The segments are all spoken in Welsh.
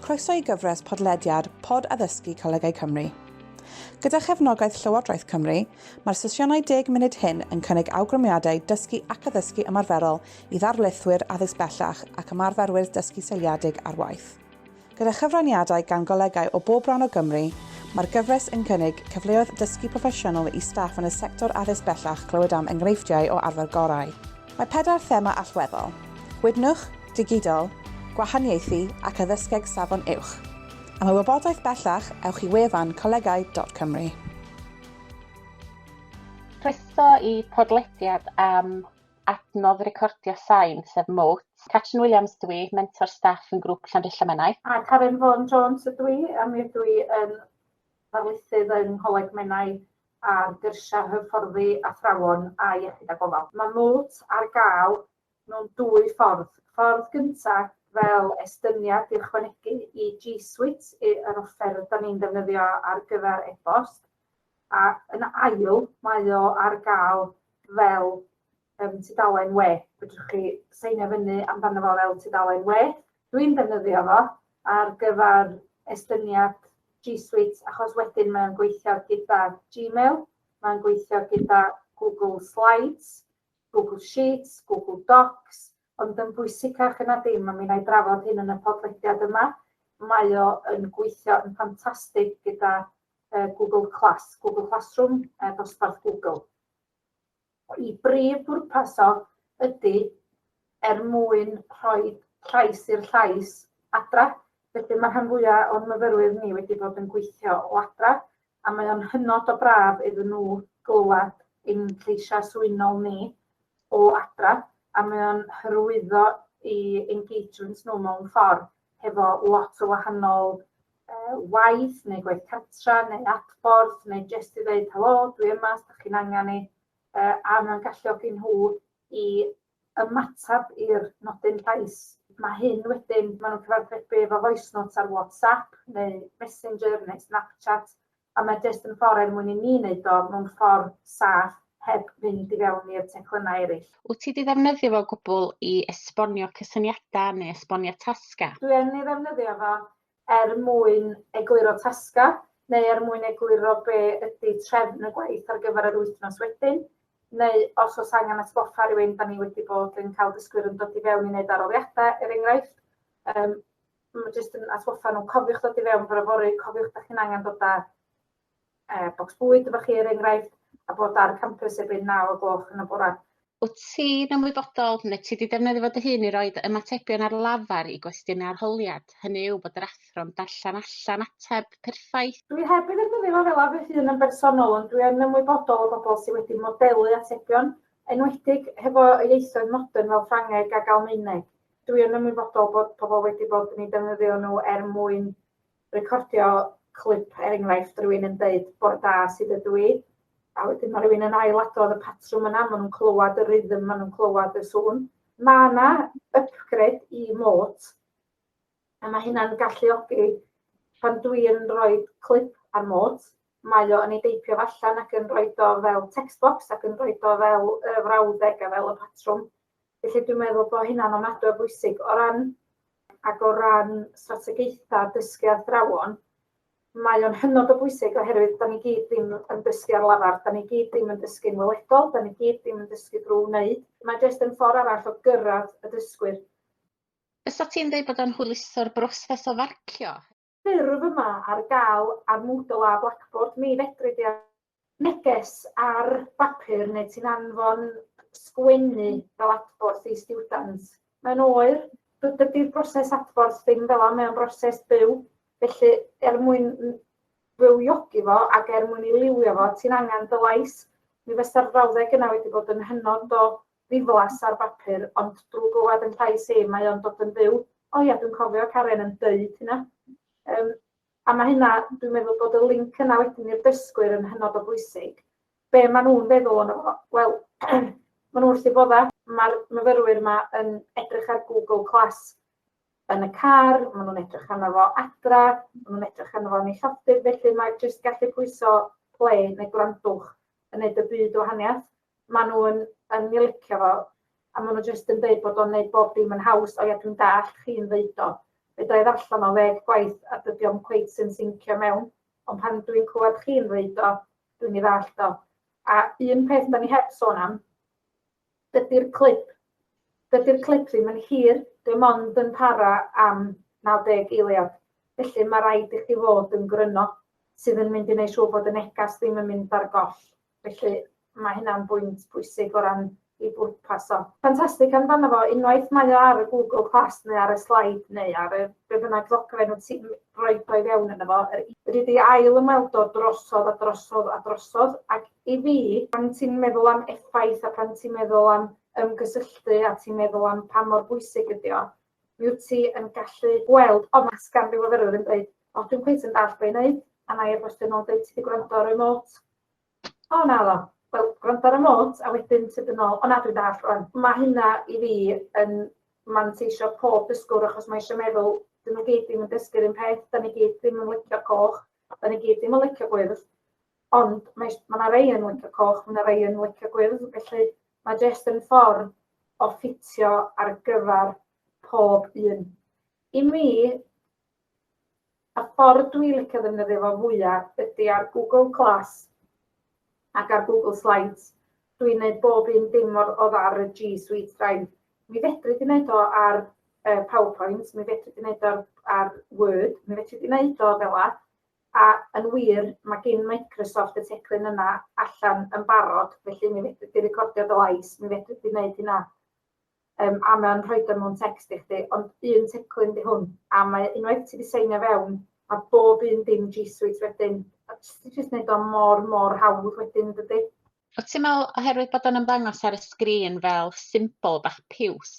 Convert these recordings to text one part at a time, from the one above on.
Croeso i gyfres podlediad Pod Addysgu Colegau Cymru. Gyda chefnogaeth Llywodraeth Cymru, mae'r sesiynau deg munud hyn yn cynnig awgrymiadau dysgu ac addysgu ymarferol i ddarlithwyr addysg bellach ac ymarferwyr dysgu seiliedig ar waith. Gyda chyfraniadau gan golegau o bob rhan o Gymru, mae'r gyfres yn cynnig cyfleoedd dysgu proffesiynol i staff yn y sector addysg bellach clywed am enghreifftiau o arfer gorau. Mae pedair thema allweddol, Gwydnwch, Digidol, Gwahaniaethu ac Addysgeg Safon Uwch. Am y wybodaeth bellach, ewch i wefan colegau dot cymru. Croeso i podlediad am Adnodd recordio sain, sef mot. Catrin Williams ydw i, mentor staff yn grŵp Llanrilla Menai. A Karen Vaughan Jones ydw i, a mi ydw i yn ddarlithydd yng Ngholeg Menai ar gyrsiau hyfforddi athrawon a iechyd a gofal. Mae mot ar gael mewn dwy ffordd. Ffordd gyntaf, fel estyniad i ychwanegu i G Suite, yr offer 'da ni'n ddefnyddio ar gyfer e-bost, A yn ail, mae o ar gael fel um, tudalen we. Fedrwch chi seinio fyny amdano fo fel tudalen we. Dwi'n defnyddio fo ar gyfer estyniad G Suite achos wedyn mae'n gweithio gyda Gmail, mae'n gweithio gyda Google Slides, Google Sheets, Google Docs, ond yn bwysicach yna dim, a mi wna i drafod hyn yn y podlediad yma, mae o yn gweithio yn ffantastig gyda Google Class, Google Classroom, a dosbarth Google. Y brif bwrpas o ydy er mwyn rhoi llais i'r llais adra, felly mae rhan fwyaf o'n myfyrwyr ni wedi bod yn gweithio o adra, a mae o'n hynod o braf iddyn nhw glywed ein lleisiau swynol ni o adra, a mae o'n hyrwyddo i engagement nhw mewn ffordd. hefo lot o wahanol uh, waith neu gwaith cartra neu adborth neu jyst i ddeud helo, dwi yma, os da chi'n angen i, uh, a mae'n galluogi nhw i ymateb i'r nodyn llais. Mae hyn wedyn, maen nhw'n cyfathrebu efo voice notes ar WhatsApp neu Messenger neu Snapchat a mae jyst yn ffordd er mwyn i ni wneud o mewn ffordd saff heb fynd i fewn i'r teclynnau eraill. Wyt ti 'di ddefnyddio fo o gwbl i esbonio cysyniadau neu esbonio tasgau? Dwi yn ei ddefnyddio fo er mwyn egluro tasgau neu er mwyn egluro be ydy trefn y gwaith ar gyfer yr wythnos wedyn, neu os oes angen atgoffa rhywun, 'da ni wedi bod yn cael dysgwyr yn dod i fewn i wneud adroddiadau er enghraifft, yym Mae jyst yn atgoffa nhw, cofiwch dod i fewn bore fory, cofiwch da chi'n angen dod â e, bocs bwyd efo chi er enghraifft, a bod ar y campus erbyn 9 o gloch yn y bore. Wyt ti'n ymwybodol neu ti wedi defnyddio fod dy hun i roi dy ymatebion ar lafar i gwestiynau arholiad, hynny yw bod yr athro'n darllen allan ateb perffaith? Dwi heb ei ddefnyddio fo fel fy hun yn bersonol ond dwi yn ymwybodol o bobl sydd wedi modelu atebion, enwedig hefo y ieithoedd modern fel Ffrangeg ac Almaeneg. Dwi yn ymwybodol bod pobl wedi bod yn ei defnyddio nhw er mwyn recordio clip, er enghraifft, rhywun yn dweud bod da sydd ydw i, a wedyn mae rhywun yn ailadrodd y patrwm yna, maen nhw'n clywed y rhythm, maen nhw'n clywed y sŵn. Mae yna upgrade i mot, a mae hynna'n galluogi pan dwi yn rhoi clip ar mot, mae o yn ei deipio allan ac yn rhoi do fel text box ac yn rhoi do fel y frawddeg a fel y patrwm. Felly dwi'n meddwl bod hynna'n ofnadwy o bwysig o ran ac o ran strategaethau dysgu athrawon, mae o'n hynod o bwysig oherwydd da ni gyd ddim yn dysgu ar lafar, da ni gyd ddim yn dysgu'n weledol, da ni gyd ddim yn dysgu drwy wneud. Mae jyst yn ffordd arall o gyrraedd y dysgwyr. Fysa ti'n dweud bod o'n hwyluso'r broses o farcio? ffurf yma ar gael ar Moodle a Blackboard, mi fedri di neges ar bapur neu ti'n anfon sgwennu fel adborth i stiwdant. Mae'n oer, dydy'r broses adborth ddim fel yna, mae'n broses byw, felly er mwyn fywiogi fo ac er mwyn ei liwio fo, ti'n angen dy lais. Mi fysa'r frawddeg yna wedi bod yn hynod o ddiflas ar bapur ond drw glywad yn llais hi mae o'n dod yn fyw. O ia dwi'n cofio Karen yn deud hynna. Yym a mae hynna dwi'n meddwl bod y link yna wedyn i'r dysgwyr yn hynod o bwysig. Be maen nhw'n feddwl o'n fo? Wel maen nhw wrth eu bodda. Mae'r myfyrwyr yma yn edrych ar Google Class yn y car, maen nhw'n edrych arno fo adra, maen nhw'n edrych arno fo yn ei llofftydd, felly mae jyst gallu pwyso play neu gwrandwch yn neud y byd o wahaniaeth. maen nhw yn, yn ei licio fo, a maen nhw jyst yn dweud bod o'n gwneud bob dim yn haws, o ia, dwi'n dall chi'n ddeud o. Fe dda i ddarllen o ddeg gwaith a dydy o'n cweith sy'n syncio mewn, ond pan dwi'n clywed chi'n ddeud o, dwi'n ei ddall o. A un peth da ni heb sôn am, dydy'r clip, dydy'r clip ddim yn hir, dim ond yn para am 90 eiliad. Felly mae rhaid i chi fod yn gryno sydd yn mynd i wneud siŵr bod y negas ddim yn mynd ar goll. Felly, mae hynna'n bwynt pwysig o ran ei bwrpas o. Ffantastig amdano fo, unwaith mae o ar y Google Class neu ar y slaid neu ar y be bynnag ddogfen wyt ti'n rhoi o i fewn yno fo, yr Fedri di ail ymweld o drosodd a drosodd a drosodd ac i fi, pan ti'n meddwl am effaith a pan ti'n meddwl am ymgysylltu a ti'n meddwl am pa mor bwysig ydi o, mi wyt ti yn gallu gweld, o mae sgan fi fyfyrwyr yn dweud, o dwi'n cweit yn dallt be i wneud, a mae e-bostio nôl yn dweud ti wedi gwrando ar y remote, O naddo. Wel, gwrando ar y nôt a wedyn tyd yn ôl. O na, dwi'n dallt rwan. Mae hynna i fi yn manteisio pob dysgwr achos mae eisiau meddwl, dyn nhw gyd ddim yn dysgu'r un peth, da ni gyd ddim yn licio coch, da ni gyd ddim yn licio gwyrdd, ond mae mae yna rei yn licio coch, mae yna rei yn licio gwyrdd, felly mae jyst yn ffordd o ffitio ar gyfer pob un. I mi, Y ffordd dwi licio ddefnyddio fo fwya ydi ar Google Glass ac ar Google Slides. Dwi'n gwneud bob un dim mor odd ar y G Suite Drive. Mi fedri di wneud o ar uh, PowerPoint, mi fedri di wneud o ar, ar Word, mi fedri di wneud o fel a, a yn wir, mae gen Microsoft y teclyn yna allan yn barod, felly mi fedri di recordio dy lais, mi fedri di wneud hynna. Yym a mae o'n rhoid o mewn text i chdi, ond un teclyn 'di hwn, a mae unwaith ti 'di seinio fewn, mae bob un dim G Suite wedyn, a jyst ti jyst neud o mor mor hawdd wedyn dydi? Wt ti'n me'wl oherwydd bod o'n ymddangos ar y sgrin fel symbol bach piws,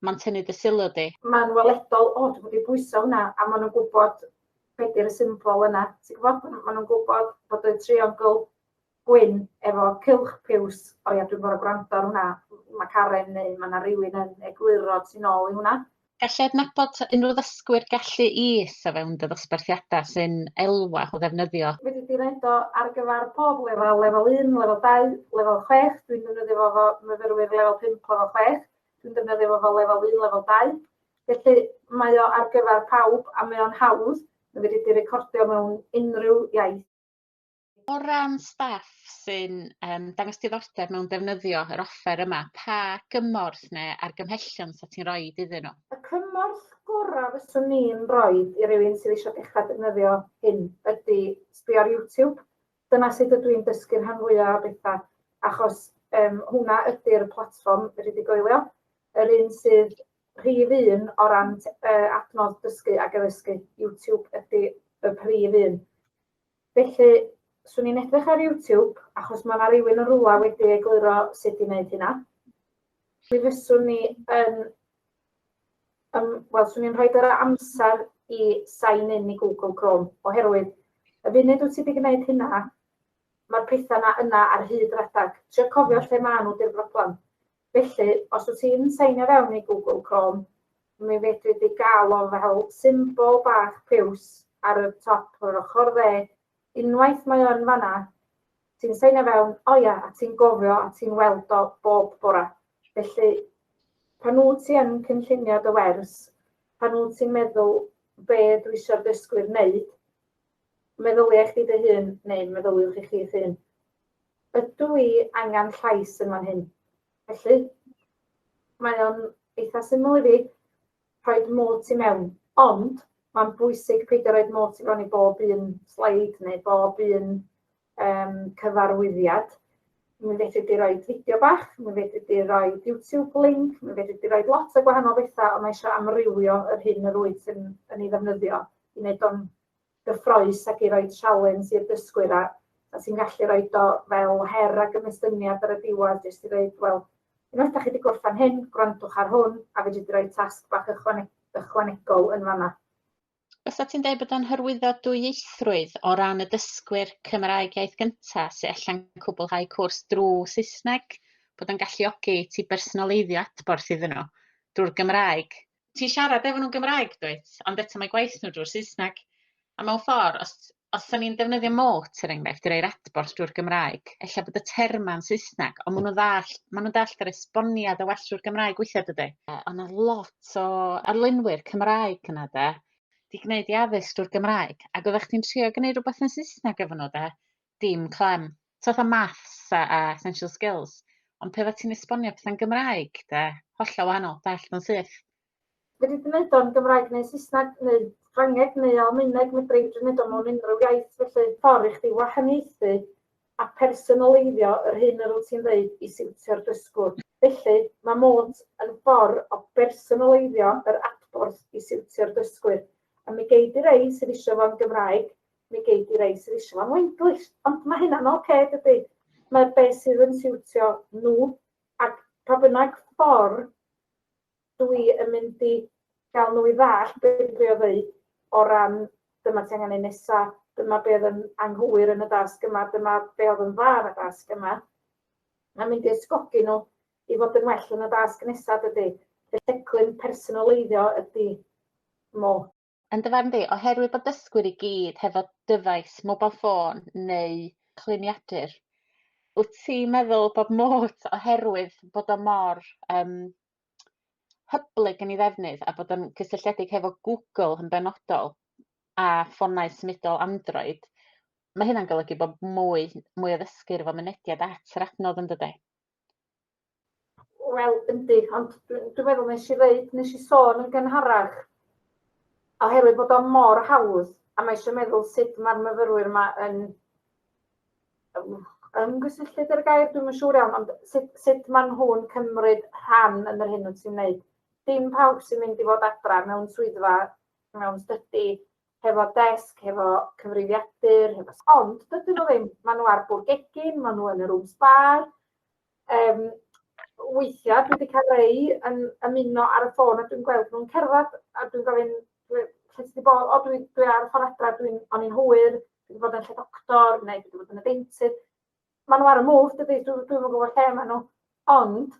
ma'n tynnu dy sylw di? Ma'n weledol od bod 'di pwyso hwnna a ma' nw'n gwbod be' 'di'r y symbol yna, ti gwbod? Ma' nw'n gwbod bod y triongl gwyn efo cylch piws. O ia dwi'n gor'o' gwrando ar hwnna. Ma' Karen neu ma' 'na rywun yn egluro tu nôl i hwnna. Gallu adnabod ta unrhyw ddysgwyr gallu is o fewn dy ddosbarthiada sy'n elwa o ddefnyddio. Fedri di roid o ar gyfar pob lefal, lefal un, lefal dau, lefal chwech, dwi'n defnyddio fo fo myfyrwyr lefal pump, lefal chwech, dwi'n defnyddio fo fo lefal un, lefal dau. Felly mae o ar gyfar pawb a mae o'n hawdd, ma' fedri di recordio mewn unrhyw iaith. O ran staff sy'n yym dangos diddordeb mewn defnyddio yr offer yma pa gymorth ne' argymhellion 'sa ti'n roid iddyn nhw? Y cymorth gora' fyswn i'n roid i rywun sydd isio dechra defnyddio hyn ydi sbio ar YouTube. Dyna sut ydw i'n dysgu'r rhan fwya' o betha' achos yym hwnna ydi'r platfform fedri di goelio. Yr un sydd rhif un o ran t- yy adnodd dysgu ag addysgu, YouTube ydi y prif un. Felly, swn i'n edrych ar YouTube, achos mae yna rywun yn rwla wedi egluro sut i wneud hynna. Mi fyswn ni yn... Um, Wel, swn i'n rhoi yr amser i sign in i Google Chrome, oherwydd y funud wyt ti wedi gwneud hynna, mae'r pethau yna yna ar hyd rhedeg. Trio cofio lle maen nhw di'r broblem. Felly, os wyt ti'n seinio fewn i Google Chrome, mi fedri di gael o fel symbol bach piws ar y top yr ochr dde. Unwaith mae o yn fan'na, ti'n seinio fewn, o ia, a ti'n gofio a ti'n weld o bob bore. Felly, pan wyt ti yn cynllunio dy wers, pan wyt ti'n meddwl be dwi eisiau'r dysgwyr wneud, meddylia chdi dy hun, neu meddyliwch i chi'ch hun, Ydw i angen llais yn fan hyn? Felly, mae o'n eitha syml i fi, rhoi'r mot i mewn. Ond, mae'n bwysig peidio rhoi'r mot i fewn i bob un sleid neu bob un um, cyfarwyddiad. Mi fedri di roi fideo bach, mi fedri di roi YouTube link, mi fedri di roi lot o gwahanol bethau, ond mae eisiau amrywio yr hyn yr wyt yn, yn ei ddefnyddio i wneud o'n gyffrous ac i roi sialens i'r dysgwyr a a ti'n gallu rhoi do fel her a gymystyniad ar y diwedd jyst i ddeud wel unwaith da chi wedi gorffen hyn gwrandwch ar hwn a fedri di roi tasg bach ychwane- ychwanegol yn fanna. Fysa ti'n deud bod o'n hyrwyddo dwyieithrwydd o ran y dysgwyr Cymraeg iaith gynta sy allan cwblhau cwrs drwy Saesneg, bod o'n galluogi ti bersonaleiddio adborth iddyn nhw drwy'r Gymraeg? ti'n siarad efo nhw'n Gymraeg dwyt ond eto mae gwaith nhw drwy'r Saesneg a mewn ffordd os os 'dan ni'n defnyddio mot er enghraifft i roi'r adborth drwy'r Gymraeg ella bod y terma'n Saesneg ond ma' nhw'n ddall' ma' nhw'n dallt yr esboniad yn well drwy'r Gymraeg weithia' dydi? Yy o' 'na lot o arlunwyr Cymraeg yna 'de 'di gneud 'u addysg drw'r Gymraeg ag oddach chdi'n trio gneud rwbath yn Saesneg efo nhw 'de Dim clem. Ti fatha maths a a essential skills ond pe' oddet ti'n esbonio petha'n Gymraeg 'de, hollol wahanol, dallt o'n syth. Fedri di neud o yn Gymraeg neu Saesneg neu Ffrangeg neu Almaeneg, medri fedri neud o mewn unrhyw iaith felly. Ffordd i chdi wahaniaethu a phersonaleiddio yr hyn yr wyt ti'n ddeud i siwtio'r dysgwr. Felly, mae Mot yn ffordd o bersonaleiddio yr adborth i siwtio'r dysgwyr. A mi gei di rei sydd isio fo yn Gymraeg, Mi gei di rei sydd eisiau fo am Wenglish. Ond mae hynna'n oce, okay, dydy? Mae be sydd yn siwtio nhw. Ac pa bynnag ffordd dwi yn mynd i gael nhw i ddall beth dwi'n drio ddweud o ran dyma ti angen ei nesa, dyma be oedd yn anghywir yn y dasg yma, dyma be oedd yn dda yn y dasg yma. Mae'n mynd i ysgogi nhw i fod yn well yn y dasg nesaf dydy. Y lleclyn personoleiddio ydy mo. Yn dy farn di, oherwydd bod dysgwyr i gyd hefo dyfais, mobile ffôn neu cluniadur, wyt ti'n meddwl bod mot oherwydd bod o mor um, hyblyg yn ei ddefnydd a bod o'n cysylltiedig hefo Google yn benodol a ffonau symudol Android, mae hynna'n golygu bod mwy, mwy o ddysgwyr efo mynediad at yr adnodd yn dydy? Wel, yndi, ond dwi'n meddwl nes i ddeud, nes i sôn yn gynharach, oherwydd bod o mor hawdd, a mae eisiau meddwl sut mae'r myfyrwyr yma yn ymgysylltu dy'r gair, dwi'n yn siŵr iawn, ond sut, sut maen nhw'n cymryd rhan yn yr hyn wyt ti'n wneud. Dim pawb sy'n mynd i fod adra mewn swyddfa, mewn stydi, hefo desg, hefo cyfrifiadur, hefo... Ond dydyn nhw ddim, maen nhw ar bwrdd gegin, maen nhw yn y rooms bar. Um, weithiau dwi wedi cael rei yn ymuno ar y ffôn a dwi'n gweld nhw'n cerdded a dwi'n gofyn, lle ti wedi bod? O, dwi, dwi ar y ffordd adra, dwi'n o'n i'n hwyr, dwi wedi bod yn lle doctor neu dwi wedi bod yn y deintydd. Maen nhw ar y mwf, dwi, dwi, dwi'n gwybod lle maen nhw. Ond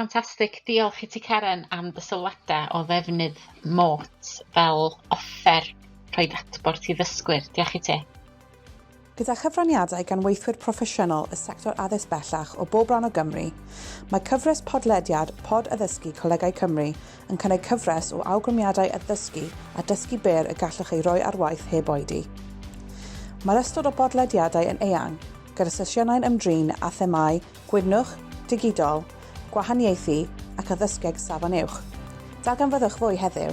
Ffantastig, diolch i ti Karen am dy sylwadau o ddefnydd MOTE fel offer rhoid adborth i ddysgwyr. Diolch i ti. Gyda chyfraniadau gan weithwyr proffesiynol y sector addysg bellach o bob rhan o Gymru, mae cyfres podlediad Pod Addysgu Colegau Cymru yn cynnig cyfres o awgrymiadau addysgu a dysgu byr y gallwch eu rhoi ar waith heb oedi. Mae'r ystod o bodlediadau yn eang, gyda sesiynau'n ymdrin â themâu Gwydnwch, Digidol, Gwahaniaethu ac Addysgeg Safon Uwch. Darganfyddwch fwy heddiw!